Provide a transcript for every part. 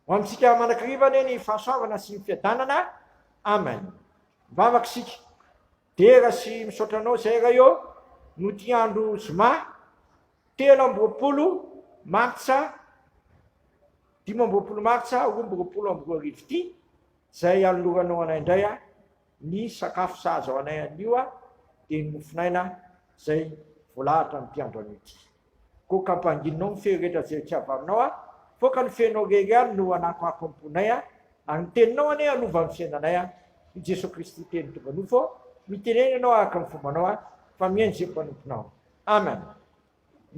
Ho amintsika manakariva anie ny fahasoavana sy ny fiadanana. Amen. Mivavaka isika. Dera sy misaotra anao izay ray ô, no ity andro zoma telo amby roapolo martsa dimy amby roapolo martsa roa amby roapolo amby roa arivo ity, izay anoloranao anay indray a. Ny sakafo sahaza ho anay anio dia ny mofonaina izay voalahatra ny mpiandro anio ity. Koa kampanginao mifehy ry rehetra izay etsy avaminao a! Foka ny feonao rery any no hanakoako ny mponay a! Ary ny teninao anie hanova ny fiainanay a! I Jesoa Kristy Teny tonga nofo ô! Mitenena ianao araka ny fombanao a! Fa mihaino izay mpanomponao. Amen.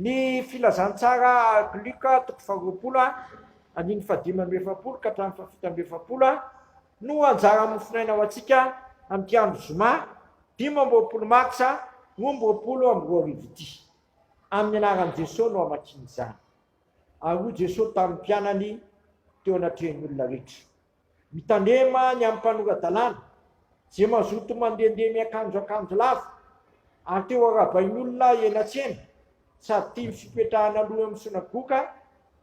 Ny Filazantsara ark Luka toko faharoapolo a andininy fahadimy amby efapolo ka hatramin'ny fahafito amby efapolo a no anjara mofonaina ho antsika amin'ity andro zoma dimy amby roapolo martsa roa amby roapolo amby roa arivo ity. Amin'ny anaran'i Jesoa no hamakiana izany. Ary hoy Jesoa tamin'ny mpianany teo anatrehan'ny olona rehetra. Mitandrema ny amin'ny mpanora-dalàna, izay mazoto mandehandeha miakanjo akanjo lava ary te ho arahabain'olona eny an-tsena sady tia ny fipetrahana aloha eo amin'ny sonagoka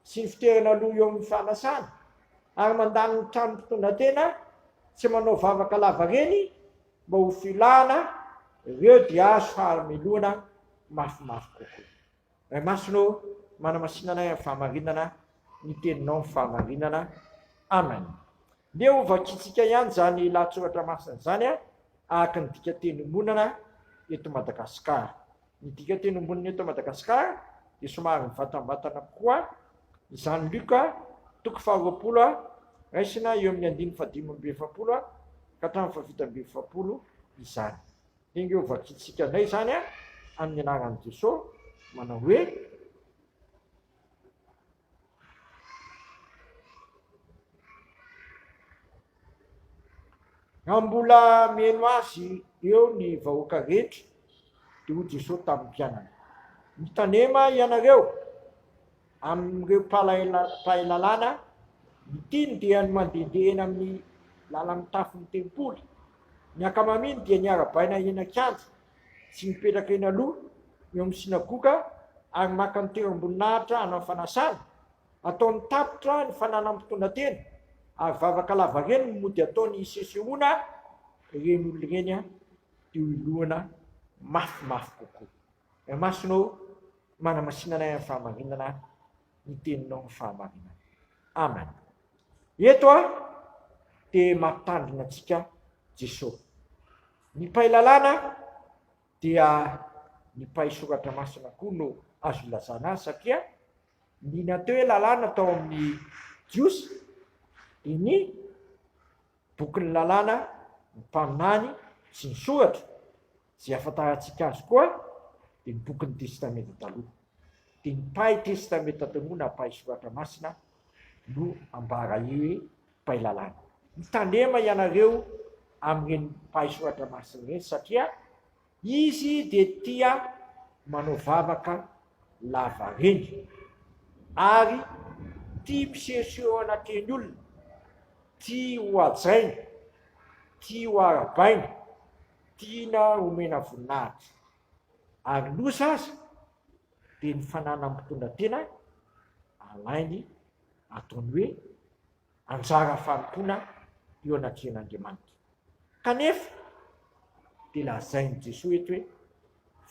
sy ny fiterana aloha eo amin'ny fanasana ary mandany ny trano mpitondratena tsy manao vavaka lava reny mba ho filana ireo DH fahamelona mafimafy kokoa. Ray Masina ô, manamasina anay amin'ny fahamarinana, ny Teninao ny fahamarinana. Amen. Ndeha ho vakintsika ihany izany lahatsoratra masina izany araka ny dikanteny ombonana eto Madagasikara. Ny dikanteny ombonana eto Madagasikara dia somary mivantambatana kokoa izany Luka toko faharoapolo raisina eo amin'ny andininy fahadimy amby efapolo ka hatramin'ny fahafito amby efapolo izany. Enga eo vakintsika indray izany an, amin'ny anaran'i Jesoa, manao hoe, Raha mbola mihaino Azy eo ny vahoaka rehetra, dia hoy Jesoa tamin'ny mpianany, Mitanema ianareo, Amin'ireo mpahay lalàna, ny tiany dia ny mandehandeha eny amin'ny lalan'ny tafon'ny tempoly. Ny ankamaminy dia niarabaina eny an-kianja sy mipetraka eny aloha eo amin'ny synagoga ary maka ny toeram-boninahitra hanao fanasana. Ataony tapitra ny fananam-potoana-tena ary vavaka lavareny no mody ataony hisesehoana ireny olona ireny diloiloana mafimafy kokoa. Ny masonao manamasinana ahy amin'ny fahamarinana, ny teninao ny fahamarinana. Amen. Eto a, te mampitandrina antsika Jeso. Ny mpay lalàna dia ny mpay soratra masina koa no azo ilazana azy satria ny nateo hoe lalàna tao amin'ny Jiosy dia ny bokin'ny lalàna, ny mpaminany sy ny soratra. Izay ahafantarantsika azy koa dia ny bokin'ny Testamenta Taloha. Dia ny mpahay Testamenta Taloha na mpahay Soratra Masina no ambara hoe mpahay lalàna. Mitandrema ianareo amin'ireny mpahay Soratra Masina ireny satria izy dia tia manao vavaka lava reny ary tia misehoseho eo anatrehan'ny olona, tia hohajaina, tia hoarabaina, Tiana omena voninahitra. Ary loza aza dia ny fananan'ny mpitondra tena alainy ataony hoe anjara fanompoana eo anatrehan'Andriamanitra. Kanefa dia lazain'i Jesoa eto hoe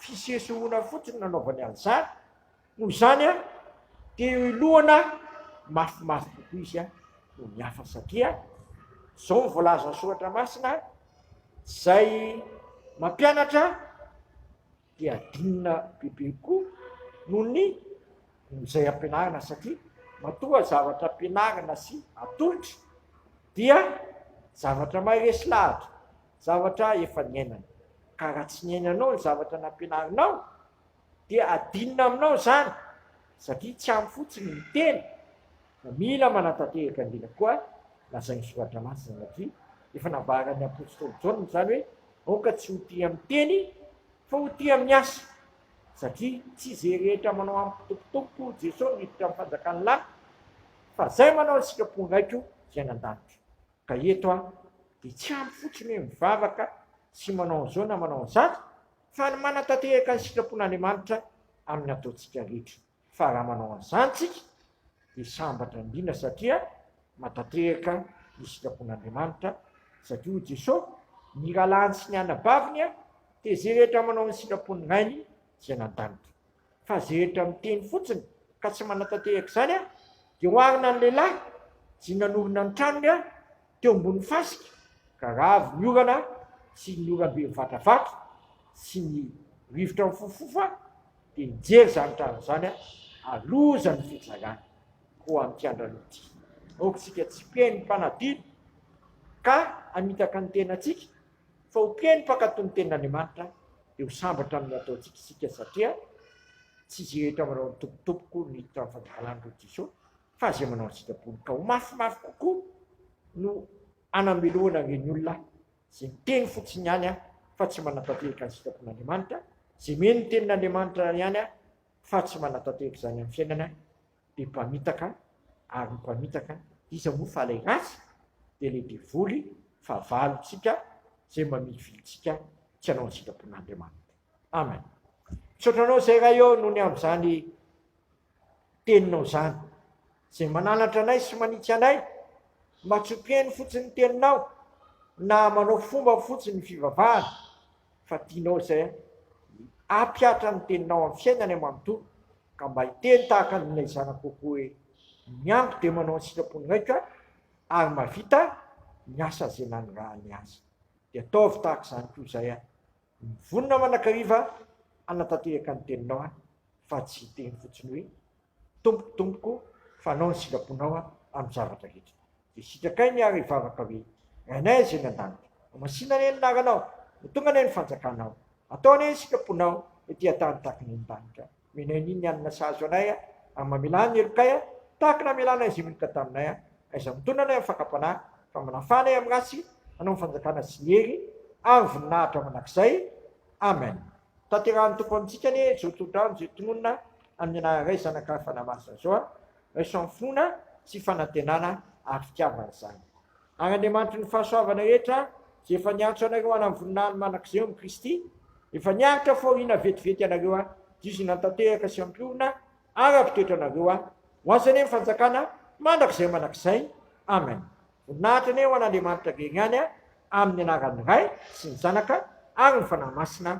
Fisehosehoana fotsiny no nanaovany an'izany, noho izany dia eo ilohana mafimafy kokoa izy noho ny hafa satria izao no voalazan'ny soratra masina, izay mampianatra dia adinina bebe kokoa noho ny izay ampianarina satria matoa zavatra ampianarina sy atolotry dia zavatra maharesy lahatra. zavatra efa niainany. Ka raha tsy niainanao ny zavatra nampianarinao dia adinona aminao izany satria tsy ampy fotsiny ny teny fa mila manatanteraka indrindra koa lazain'ny soratra masina satria efa nambaran'ny apostoly Jaona izany hoe aoka tsy ho tia amin'ny teny fa ho tia amin'ny asa satria tsy izay rehetra manao ampitopotopo Jesosy miditra amin'ny fanjakan'ny lahy fa izay manao ny sitrapon'ny raiko izay nandanitra. Ka eto aho dia tsy ampy fotsiny hoe mivavaka sy manao an'izao na manao an'izato fa ny manatatehaka ny sitrapon'Andriamanitra amin'ny ataontsika rehetra. Fa raha manao an'izany tsika dia sambatra indrindra satria matatehaka ny sitrapon'Andriamanitra satria hoy Jesosy ny rahalahiny sy ny anabaviny dia izay rehetra manao ny sitrapon'ny Rainy izay any an-danitra. fa zehitra miteny fotsiny ka tsy manatanteraka izany aho dia oharina ny lehilahy zay nanorina ny tranony aho teo ambony fasika ka ravo ny orana sy ny orambe mivatravato sy ny rivotra mifofofofa dia nijery izany trano izany aho aloza ny fitsarana ko amin'ity andrano ity aoka isika tsy mpeno mpanadino ka hamitaka ny tenantsika fa ho mpino mpankatò ny tenin'Andriamanitra dia ho sambatra amin'ny ataontsika isika satria tsy izay rehetra manao ny tompotompoko ny tamin'ny fangalarany roa Jesoa fa izay manao ny sitrapony ka ho mafimafy kokoa no anamelohana ireny olona izay miteny fotsiny ihany aho fa tsy manatanteraka ny sitrapon'Andriamanitra, izay mino ny tenin'Andriamanitra ihany aho fa tsy manatanteraka izany amin'ny fiainana dia mpamitaka ary ny mpamitaka iza moa fa ilay ratsy dia ilay devoly fahavalontsika izay mamilivily antsika tsy hanao ny sitrapon'Andriamanitra. Amen. Misaotra anao izay Ray ô noho ny amin'izany teninao izany izay mananatra anay sy manitsy anay mba tsy hompihaino fotsiny ny teninao na manao fomba fotsiny ny fivavahana fa tianao izay hampiatra ny teninao amin'ny fiainanay manontolo Ka mba hiteny tahaka an'ilay zanako kokoa hoe, miango dia manao ny sitrapony raiko ary mahavita ny asa izay nanirahany azy. Dia ataovy tahaka izany koa izay aho. Mivonona manakariva hanatanteraka ny teninao aho, fa tsy hiteny fotsiny hoe, Tompoko, Tompoko, fa hanao ny sitraponao aho amin'ny zavatra rehetra. Dia sitrakainy ary hivavaka hoe, Rainay Izay any an-danitra, homasina anie ny anaranao, ho tonga anie ny fanjakanao, atao anie ny sitraponao ety an-tany tahaka ny eny an-danitra. Omenay ny hanina sahaza anay ary mamelà ny helokay tahaka ny hamelanay izay meloka taminay, aiza mitondra anay amin'ny fakam-panahy, fa manafaha anay amin'ny ratsy, hanao ny fanjakana sy ny hery ary voninahitra mandrakizay. Amen. Tanterahin'ny Tompo amintsika anie izao torodrano izay tononina amin'ny anaran'iray Zanak'Afanamasina izao, raisamfona sy fanantenana ary fitiavana izany. Ary Andriamanitry ny fahasoavana rehetra, izay efa niantso anareo hanao ny voninahiny mandrakizay eo amin'i Kristy, efa niaritra fahoriana vetivety ianareo diozina tanteraka sy ampiorina araka ny toetranareo, ho Azy anie ny fanjakana mandrakizay mandrakizay. Amen. Voninahitra anie ho an'Andriamanitra irery ihany, amin'ny anaran'ny Ray sy ny Zanaka ary ny Fanahy Masina.